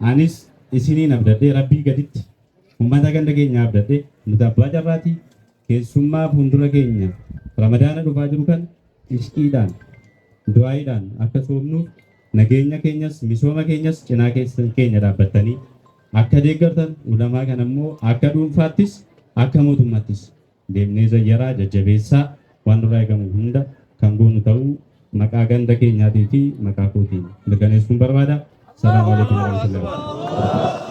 Anis isiniin abdadhee Rabbii gaditti ummata ganda keenyaa abdadhee nuti abbaa carraati keessummaa fuuldura keenya ramadaana dhufaa jiru kan ishqiidhaan du'aayiidhaan akka soomnuuf nageenya keenyas misooma keenyas cinaa keessan keenya dhaabbattanii akka deeggartan ulamaa kan ammoo akka dhuunfaattis akka mootummaattis deemnee zayyaraa, jajjabeessaa, waan nurraa eegamu hunda kan goonu ta'uu maqaa ganda keenyaatii fi maqaa kootiin mirkaneessuun barbaada. Salaamu alaikum warahmatullahi wabarakatuh.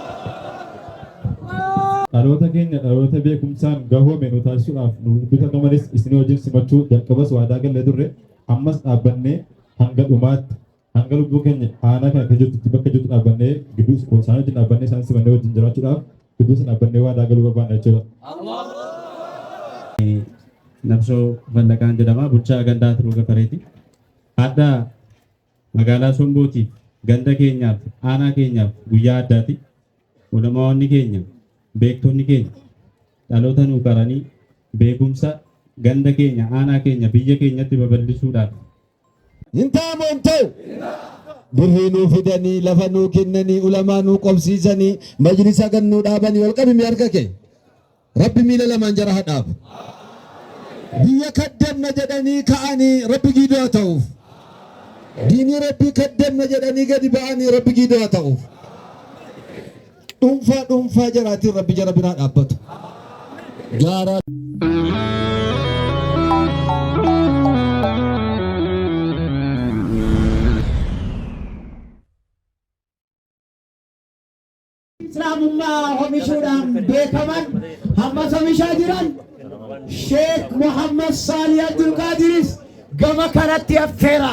Dhaloota keenya dhaloota beekumsaan gahoome nu taasisuudhaaf nu bitannu malees isin wajjin simachuu jalqabas waadaa gallee turre ammas dhaabbannee hanga dhumaatti Hanga lubbuu keenya aanaa kana keessa jirtutti bakka jirtu dhaabbannee gidduu isaan wajjin dhaabbannee isaan simannee wajjin jiraachuudhaaf gidduu isaan dhaabbannee waadaa galuu barbaanna jechuudha. Nabsoo Fallaqaan jedhama bulchaa gandaa Tiruu Gafareeti. Adda magaalaa Sombootiif ganda keenyaaf aanaa keenyaaf guyyaa addaati. Ulamaawwanni keenya beektonni keenya dhaloota nuu qaranii beekumsa ganda keenya aanaa keenya biyya keenyatti babal'isuudhaaf Hin ta'a moo hin ta'u? Birrii nuu fidanii, lafa nuu kennanii, ulamaa nuu qobsiisanii, majlisa gad nuu dhaabanii ol qabimi harka kee. Rabbi miila lamaan jara haa dhaabu. Biyya kaddamna jedhanii ka'anii Rabbi giidoo haa ta'uuf. Diinii Rabbii kaddamna jedhanii gadi ba'anii Rabbi giidoo haa ta'uuf. Dhuunfaa dhuunfaa jaraatiin rabbi jara biraa dhaabbatu. Gaaraa. islaamummaa homishuudhaan beekaman hammas homishaa jiran sheek muhammad saalih abdulqaadiris gama kanatti affeera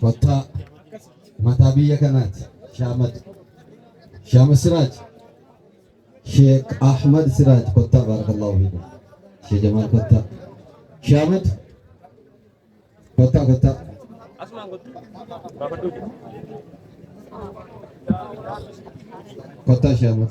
Kottaa mataa biyya kanaati. Shaamad. Shaamad Siraaj. Sheek Ahmad Siraaj kottaa baarakallahu fiikum. Shee Jamaal kottaa. Shaamad. Kottaa kottaa. Kottaa Shaamad.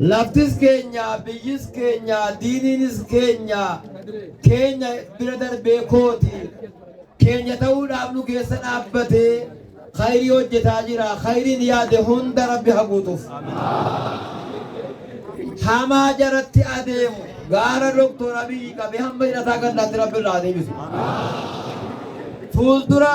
Laftis keenya, biyyis keenya, diiniinis keenya, keenya bira darbee kooti. Keenya ta'uudhaaf nu keessa dhaabbatee khayrii hojjetaa jira. Khayriin yaade hunda Rabbi ha guutuuf. Hamaa jaratti adeemu gaara Dooktor Abiyyi qabee hamma hidhataa gandaatti Rabbi irraa adeebisu. Fuuldura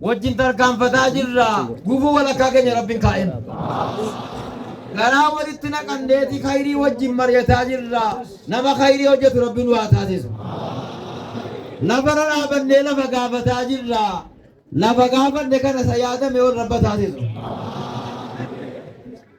Wajjin tarkaanfataa jirra. Gufuu walakkaa keenya Rabbiin kaa'een. Garaa walitti naqanneeti khayrii wajjin mari'ataa jirra. Nama khayrii hojjetu Rabbiin waa taasisu. Lafarra dhaabannee lafa gaafataa jirra. Lafa gaafanne kana isa yaadame ol rabba taasisu.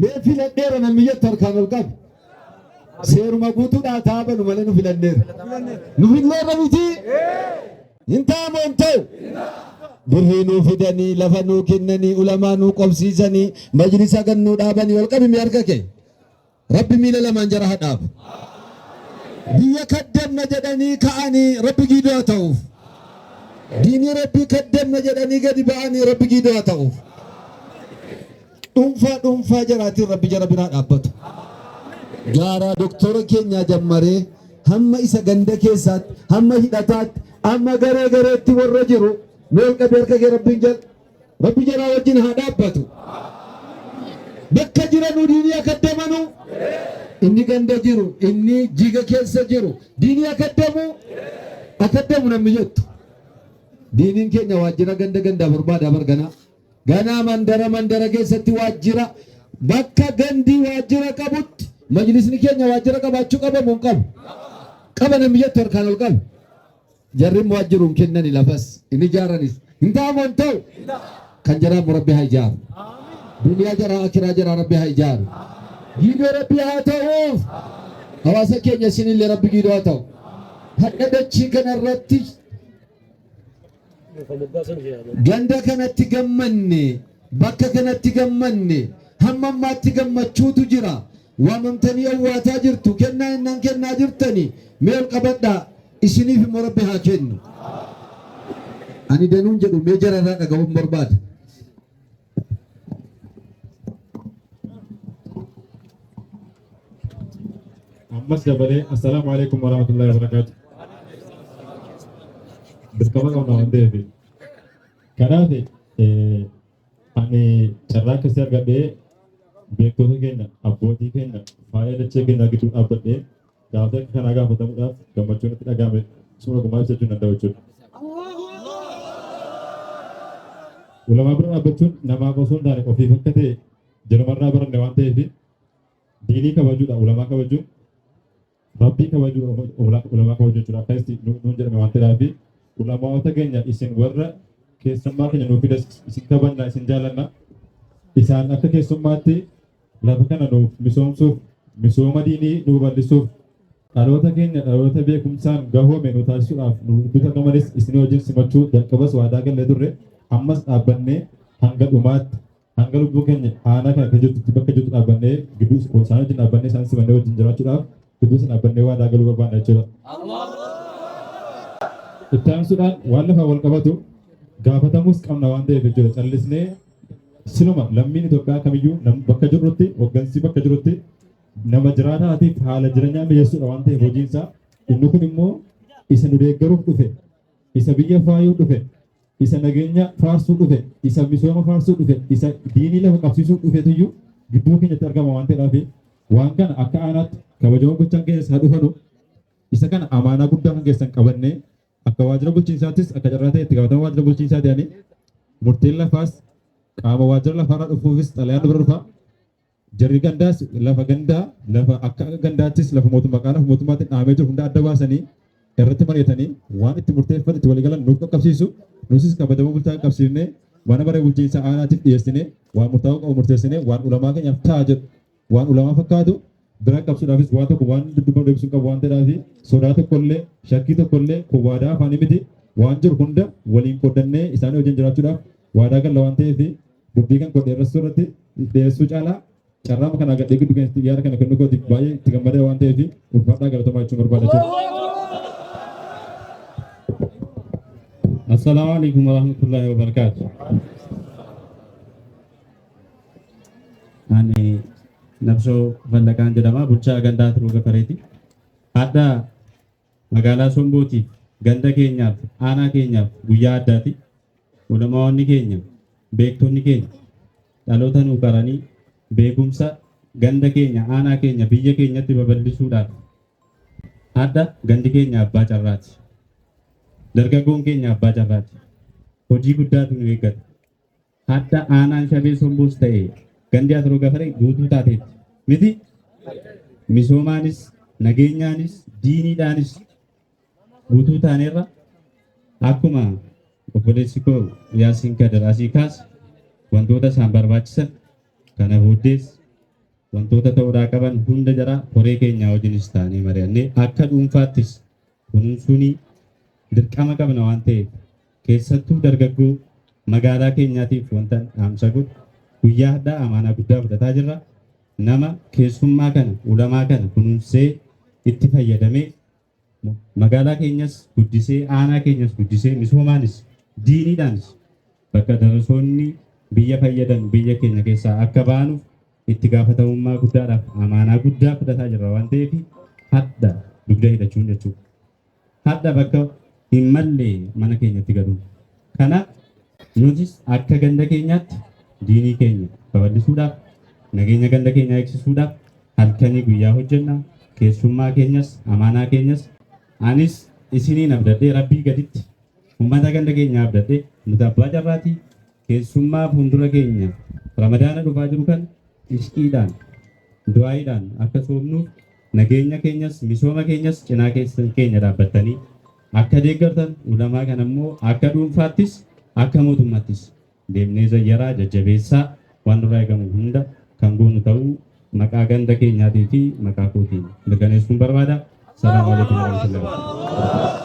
Mee filadheera namni jettu harkaan ol qabi. Seeruma guutuudhaa taa banu malee nu filanneera. Nu filneerra miti. Hin taa'amu hin ta'u. Birrii nuu fidanii, lafa nuu kennanii, ulamaa nuu qobsiisanii, majlisa gad nuu dhaabanii ol qabimi harka kee. Rabbi miila lamaan jara haa dhaabu. Biyya kaddamna jedhanii ka'anii Rabbi giidoo haa ta'uuf. Diinii Rabbii kaddamna jedhanii gadi ba'anii Rabbi giidoo haa ta'uuf. Dhunfaa dhunfaa jaraatiin rabbi jara biraa dhaabbatu. Gaaraa doktora keenyaa jammaree hamma isa ganda keessaatti hamma hidhataatti amma garee gareetti warra jiru mee ol qabi harka kee rabbiin jal rabbi jaraa wajjin haa dhaabbatu. Bakka jiranu diinii akka damanu inni ganda jiru inni jiga keessa jiru diinii akka damu akka damu namni jettu. Diiniin keenya waajjira ganda gandaa barbaada barganaa. Ganaa mandara mandara keessatti waajjira bakka gandii waajjira qabutti majlisni keenya waajjira qabaachuu qaba moo hin qabu? Qaba namni jettu harkaan ol qabu. Jarri immoo waajjiruu hin kennani lafas hin ijaaranis. Hin ta'a moo hin ta'u? Kan jaraa immoo rabbi haa ijaaru. Duniyaa jaraa akiraa jaraa rabbi haa ijaaru. Giidoo rabbi haa ta'uuf. Hawaasa keenya isinillee rabbi giidoo haa ta'u. Hadha dachii kanarratti Ganda kanatti gammanne, bakka kanatti gammanne, hamma ammaatti gammachuutu jira. Waamamtanii owwaataa jirtu, kennaa innan kennaa jirtani mee ol qabadhaa. Isiniif immoo Rabbi haa kennu. Ani danuun jedhu mee jararraa dhaga'uun barbaada. ammas dabalee assalaamu alaikum warahmatullahi wabarakaatu dirqama qabna waan ta'eef kanaaf eh, ani carraa keessatti argadhee beektota keenya abbootii keenya faaya dachee keenya gidduu dhaabbadhee Gaafii akka kanaa gaafatamuudhaaf gammachuu natti dhaga'ame suma gumaa ibsachuu hin danda'u jechuudha. Ulamaa bira dhaabbachuun namaaf osoo hin taane ofiif akka ta'e jirumarraa baranne waan ta'eef diinii kabajuudha ulamaa kabajuun rabbii kabajuudha ulamaa kabajuu jechuudha akka itti nuun jedhame waan ta'eef ulamaawota keenya isin warra keessummaa keenya nuuf fidas isin kabajna isin jaalanna isaan akka keessummaatti Lafa kana nuuf misoomsuuf, misooma diinii nuu bal'isuuf, dhaloota keenya dhaloota beekumsaan gahoome nu taasisuudhaaf nu gidduutti argamanis isinii wajjin simachuu jalqabas waadaa gallee turre ammas dhaabbannee hanga dhumaatti hanga lubbuu keenya aanaa kana keessa jirtutti bakka jirtu dhaabbannee gidduu isaan wajjin dhaabbannee isaan simannee wajjin jiraachuudhaaf gidduutti dhaabbannee waadaa galuu barbaadna jechuudha. Itti aansuudhaan waan lafaa wal qabatu gaafatamuus qabna waan ta'eef jechuudha callisnee siluma lammiin Itoophiyaa kamiyyuu nam- bakka jirrutti hoggansi bakka jirrutti nama jiraataatiif haala jireenyaa mijeessuudha waan ta'eef hojiinsaa inni kun immoo isa nu deeggaruuf dhufe isa biyya faayuu dhufe isa nageenya faarsuu dhufe, isa misooma faarsuu dhufe, isa diinii lafa qabsiisuu dhufetu iyyuu gidduu keenyatti argama waan ta'eedhaaf waan kana akka aanaatti kabajamoo gochaan keenya isaa dhufanu isa kana amaanaa guddaa kan keessan qabannee akka waajjira bulchiinsaattis akka carraa ta'e itti gaafatamaa waajjira bulchiinsaa ta'anii murteen lafaas qaama waajjira lafaarraa dhufuufis xalayaan dura dhufa Jarri gandaas lafa gandaa lafa akka gandaattis lafa mootummaa qaala mootummaatti dhaamee jiru hunda adda baasanii irratti mari'atanii waan itti murteeffate itti waliigalan nuuf qaqqabsiisu nuusis kabajamoo bulchaa qaqqabsiifnee mana maree bulchiinsa aanaatiif dhiyeessinee waan murtaa'uu qabu murteessinee waan ulamaa keenyaaf ta'a jedhu waan ulamaa fakkaatu bira qabsuudhaafis waan tokko waan dudduuba deebisuu qabu waan ta'eef sodaa tokkollee shakkii tokkollee kun waadaa afaanii miti waan jiru hunda waliin qoodannee isaanii wajjin jiraachuudhaaf waadaa galla waan ta'eef Dubbii kan koo dheeressuu irratti dheeressuu caalaa carraama kanaa gadhee giddu keessatti yaada kana kennuu kootiif baay'ee itti gammadee waan ta'eef ulfaadhaa galatoomaa jechuun barbaada jira. Assalaamu alaikum warahmatullahi wabarakatuh. Ani Nabsoo Fallaqaan jedhama bulchaa gandaa Turuu Gafareeti. Hadda Magaalaa Sombootiif, ganda keenyaaf, aanaa keenyaaf guyyaa addaati. Ulamaa'onni keenya, beektonni keenya dhaloota nuu qaranii beekumsa ganda keenya, aanaa keenya, biyya keenyatti babal'isuudhaaf hadha gandi keenya abbaa carraati. Dargaggoon keenya abbaa carraati. Hojii guddaatu nu eeggata. Hadda aanaan shabee sombuus ta'e gandi asiroo gafare guutuu taateetti. Miti misoomaanis nageenyaanis diiniidhaanis guutuu taaneerra akkuma obboleessi koo Yaasiin Kadir asii kaas wantoota isaan barbaachisan kana booddees wantoota ta'uudhaa qaban hunda jara koree keenyaa wajjinis taanee mari'annee akka dhuunfaattis kunuunsuunii dirqama qabna waan ta'eef Keessattuu dargaggoo magaalaa keenyaatiif wanta dhaamsa godhu guyyaa hadhaa amaanaa guddaa fudhataa jirra. Nama keessummaa kana ulamaa kana kunuunsee itti fayyadamee magaalaa keenyas guddisee aanaa keenyas guddisee misoomaanis diiniidhaanis bakka darasoonni biyya fayyadan biyya keenya keessaa akka baanuuf itti gaafatamummaa guddaadhaaf amaanaa guddaa fudhataa jirra waan ta'eef hadha dugda hidhachuun jechuudha. hadha bakka hin malle mana keenyatti galuun. Kana nutis akka ganda keenyaatti diinii keenya babal'isuudhaaf nageenya ganda keenyaa eegsisuudhaaf halkanii guyyaa hojjenna keessummaa keenyas amaanaa keenyas anis isiniin abdadhee rabbii gaditti uummata ganda keenyaa abdadhee nuti abbaa carraatii keessummaa fuuldura keenya ramadaana dhufaa jiru kan ishqiidhaan du'aayiidhaan akka soomnuuf Nageenya keenyas misooma keenyas cinaa keessan keenya dhaabbattanii akka deeggartan ulamaa kana immoo akka dhuunfaattis akka mootummaattis deemnee zayyaraa jajjabeessaa waan nurraa eegamu hunda kan goonu ta'uu maqaa ganda keenyaatii fi maqaa kootiin mirkaneessuun barbaada. Salaamu alaikum warahmatullahi wabarakatuh.